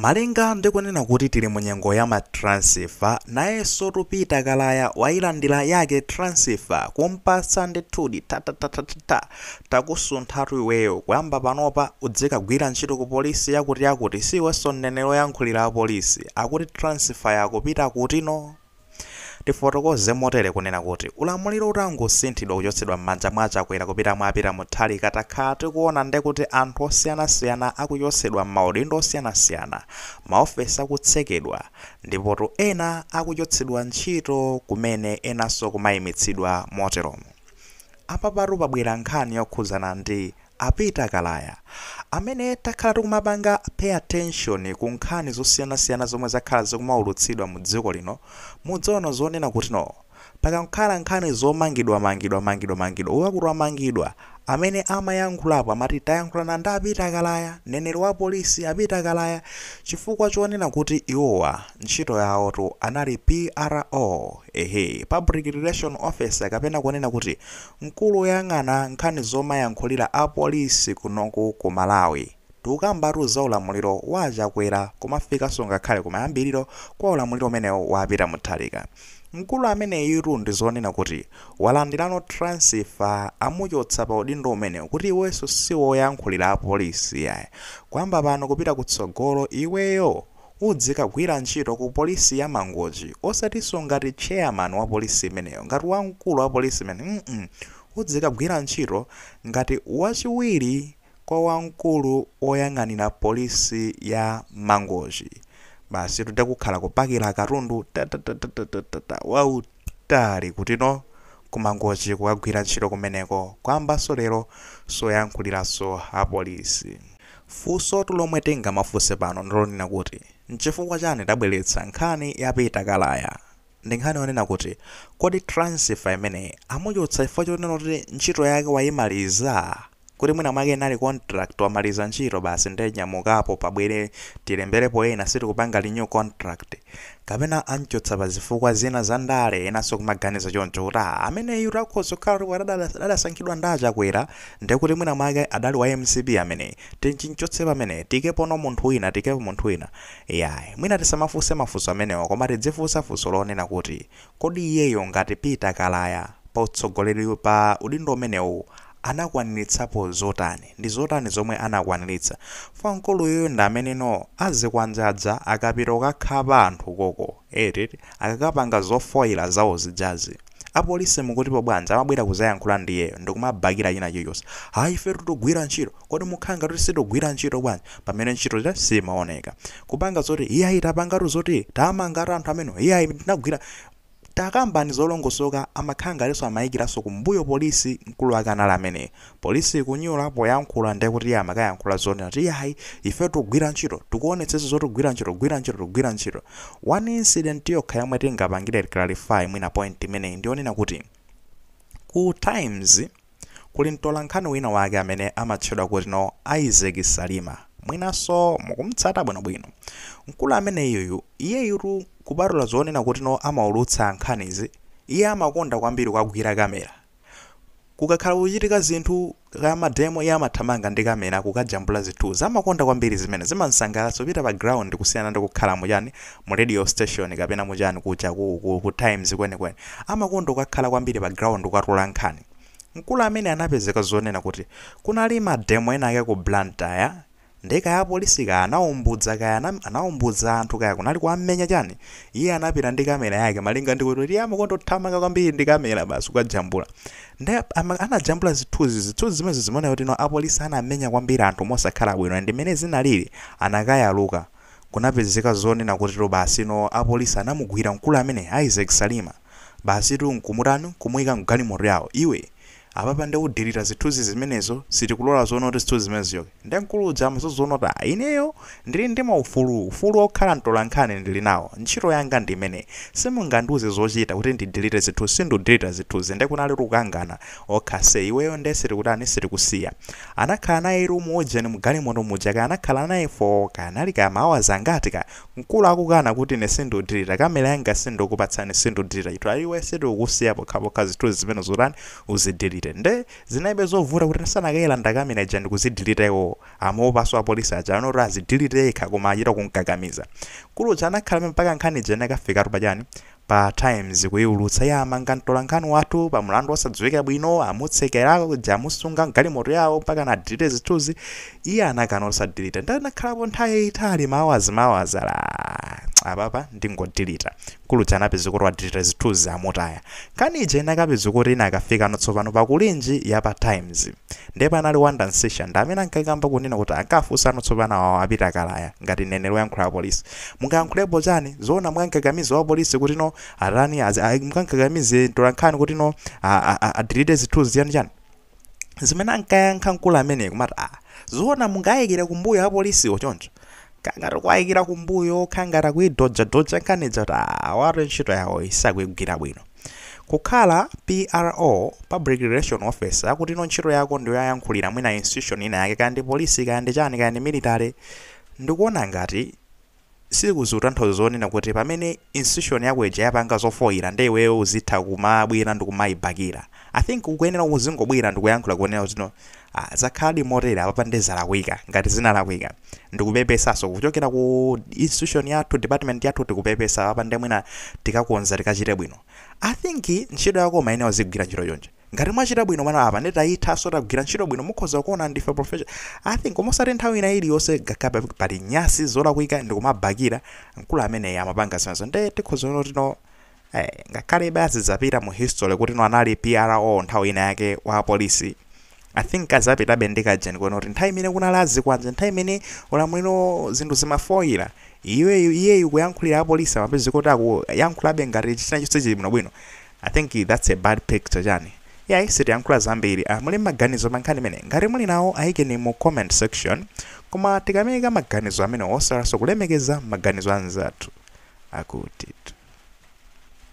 Malinga ndi kunena kuti tili mu nyengo ya ma transfer, nayensotu Peter Kalaya wailandila yake transfer kumpatsa ndithudi thathathathatha takusunthatu iweyo kuyamba panopa udzikagwira ntchito ku police yakutiyakuti si iwenso mneneri oyankhulira apolisi akuti transfer yakupita kutino? Tifotokoze motere kunena kuti ulamuliro utangosinthidwa kuchotsedwa mmanja mwa Chakwera kupita mwa Peter Mutharika takhala tikuona nde kuti anthu osiyanasiyana akuchotsedwa mmaudindo osiyanasiyana, maofesi akutsekedwa, ndipotu ena akuchotsedwa ntchito kumene enanso kumaimitsidwa moteromo apapatu pabwera nkhani yokhudzana ndi A Peter Kalaya, amene takhala tikumapanga pay attention ku nkhani zosiyanasiyana zomwe zakhala zikumaulutsidwa mu dziko lino, mudzaona zonena kuti no. Pakakhala nkhani zomangidwa mangidwa mangidwa mangidwa, uyu akuti wamangidwa, amene amayankhulapo amati tayankhulana ndi a Peter Kalaya, mneneri wa polisi a Peter Kalaya, chifukwa chonena kuti iwowa ntchito yawotu anali PRO, ehe, Public Relation Officer kapena kunena kuti Mkulu oyang'ana nkhani zomayankhulira a police kunoku ku Malawi tikukambatu za ulamuliro wa a Chakwera kumafikaso ngakhale kumayambiliro kwa ulamuliro umenewu wa a Peter Mutharika mkulu ameneyutu ndizonena kuti walandilano transfer amuchotsa pa udindo umenewu kuti iweso siwoyankhulira a police yayi kwamba pano kupita kutsogolo iweyo Udzikagwira ntchito ku police ya mangochi osatiso ngati chairman wa police imeneyo ngati wamkulu wa police imeneyo mm udzikagwira ntchito ngati wachiwiri kwa wamkulu woyang'anira police ya mangochi basitu ndekukhala kupakila katundu tatatatatata wau. Tali kutino ku Mangochi kukagwira ntchito kumeneko kwambaso lero soyankhulilaso a police. Funsotu lomwe tingamafunse pano ndilonena kuti nchifukwa chani tabweletsa nkhani ya Peter Kalaya? Ndinkhani yonena kuti kodi transfer imeneyi amuchotsa chifukwa chonena kuti ntchito yake wayimaliza? kuti mwina mwake inali contract wamaliza ntchito basi nde nyamukapo pabwere tilemberepo ena sitikupanga renew contract. Kapena amchotsa pa zifukwa zina za ndale enanso kumaganiza choncho kuti aa ameneyutu akhoza kukhala kuti adada- adasankhidwa ndi a Chakwera nde kuti mwina mwake adali wa mcp ameneyi timchotse pamene tikepono munthu wina tikepo munthu wina. Iyayi mwina tisamafunse mafunso amenewa koma tidzifunsa funso lonena kuti Kodi iyeyo ngati Peter Kalaya pa utsogoleri pa udindo umenewu anakwaniritsapo zotani? Ndi zotani zomwe anakwaniritsa? Fwa mkulu uyuyu ndi amene no azikwanje aja akapita kukakhapa anthu koko eti akakapanga zofoira zawo zijazi. Apolisi mukutipo bwanji amabwera kuzayankhula ndi iyeyo ndikumabakira china chilichonse. Ayi ifetu tikugwira ntchito. Kodi mukukhala ngati kuti sitikugwira ntchito bwanji pamene ntchito simaoneka? Kupanga zoti iyayi tapangatu zoti tamangatu anthu amene iyayi tinagwira takambani zolongosoka amakhala ngatinso amayikiranso kumbuyo polisi mkulu ameneyu amene polisi ikunyula poyankhula ndiye kuti iye amakayankhula zonena kuti iyayi ife tikugwira ntchito tikuonetsetsa zoti kugwira ntchito kugwira ntchito tikugwira ntchito one incident yokha yomwe tingapangire clarify mwina point imeneyi ndiyonena kuti ku times Kuli mtolankhani wina wake amene amatchedwa kuti no Isaac Salima. Mwinanso mukum'tsata bwinobwino. Mkulu ameneyuyu, iyeyutu kupatula zonena kuti no amaulutsa nkhanizi, iye amakonda kwambiri kukagwira kamera. Kukakhala kukuchitika zinthu, kaya mademo, iye amathamanga ndi kamera kukajambula zithunzi. Amakonda kwambiri zimenezi, zimam'sangalatsa kupita pa ground kusiyana ndi kukhala mu chani, mu radio station kapena mu chani kuja ku ku ku times kwenikweni amakonda kukakhala kwambiri pa ground kukatola nkhani mkulu amene anapezeka zonena kuti kunali ma demo ena ake ku Blantyre nde kaya apolisi kaya anaumbudza kaya ana- anaumbudza anthu kaya kunali kuwamenya chani iye anapita ndi kamera yake malinga ndi kuti iye amakonda kuthamanga kwambiri ndi kamera basi kukajambula nde ama- anajambula zithunzi zithunzi zimene zimaoneka kuti no apolisi anamenya kwambiri anthu mosakhala bwino and mmene zinalili anakayaluka kunapezeka zonena kuti basi no apolisi anamugwira mkulu amene Isaac Salima basitu nkumutani nkumuika mgalimoto yawo iwe apapa nde udelita zithuzi zimenezo sitikulola zoti zithuzi zimene zichoke nde mkulu uja amvekere zonena kuti ineyo ndili ndi maufulu ufulu okhala mtolankhani ndili nawo ntchito yanga ndi imeneyi simungandiuze zochita kuti ndidelete zithuzi sindudeleta zithuzi nde kunalitu kukangana Ok ase, iweyo nde sitikutani sitikusiya. Anakhala naye mu ujeni mu galimoto muja kaya anakhala naye for kaya anali kaya ma hours angati kaya. Mkulu akukana kuti ine sindiudilita camera yanga sindikupatsani sindudilita chithunzi iwe sitikukusiya pokhapokha zithunzi zimenezo utani uzidilite. Nde zinalibe zovuta kuti sana kayilanda camera ija ndikuzidilita iwowo amaopanso apolisi aja anati azidilite yekha koma achita kumkakamiza. Mkulu uja anakhala mpaka nkhani ija inakafikatu pa chani Pa Times kuiulutsa ya amanga mtolankhani wathu pa mlandu wosadziwika bwino, amutsekera, kuja amusunga m'galimoto yawo mpaka adelete zithuzi, iye anakana osadelete. Nde anakhalapo nthawi yaitali ma hours ma hours ah apapa ndingodelete. Mkulu uja anapezeka kuti wadelete zithuzi amutaya. Nkhani ija inakapezeka kuti inakafikano tsopano pa Kulinji ya pa Times. Ndiye panali Wonder Msiska ndi amene ankakamba kunena kuti ankafunsano tsopano awawa a Peter Kalaya ngati mneneri woyankhula apolisi. Mungayankhulepo chani? Zoona mungamkakamize wapolisi kuti no atani azi, a, mungamkakamize mtolankhani kuti no a, a, a, adelete zithunzi chani chani? Zimene ankayankha mkulu ameneyi kumati a zoona mungayikire kumbuyo apolisiwo choncho? Kangati kuwayikira kumbuyo kukhala ngati akuidodjadodja nkhani ija kuti a awatu ntchito yawoyi sakuigwira bwino. Kukhala PRO, Public Relation Officer, akutino ntchito yako ndiyoyankhulira mwina institution ina yake kaya ndi police kaya ndi chani kaya ndi military ndikuona ngati sizikutanthauza zonena kuti pamene institution yako ija yapanga zofoira nde iweyo uzitha kumabwera ndikumaibakira. I think ukuyenera kuzingobwera ndikuyankhula kunena kutino ah zakhaladi motere apapa nde zalakwika ngati zinalakwika. ndikupepesaso kuchokera ku institution yathu department yathu tikupepesa apapa nde mwina tikakonza tikachite bwino i think ntchito yako umayenera uzigwira ntchito choncho ngati mwachita bwino ah apa nde tayithaso tagwira ntchito bwino mukhoza kuona ndife professional i think osati nthawi ina iliyonse ngakhale pali nyasi zolakwika ndikumabakira mkulu ameneyi amapanga zimenezo nde tikhoza kuona kuti no ngakhale basi azapita mu history kuti no anali pro nthawi ina yake wa polisi i think azapitabe ndi kajeni konena kuti nthawi imene kunali azikwanje nthawi imene ulamuliro zinthu zimafoyira iyeyu iyeyu kuyankhulira apolisi amapezeka kuti akuyankhulabe ngati china chonse chili bwinobwino i think that's a bad picture chani Iyayi sitiyankhula zambiri ah muli maganizo pankhani imeneyi ngati muli nawo ayikeni mu comment section koma tikamaika maganizo amenewo osaiwalaso kulemekeza maganizo anzathu akutitu.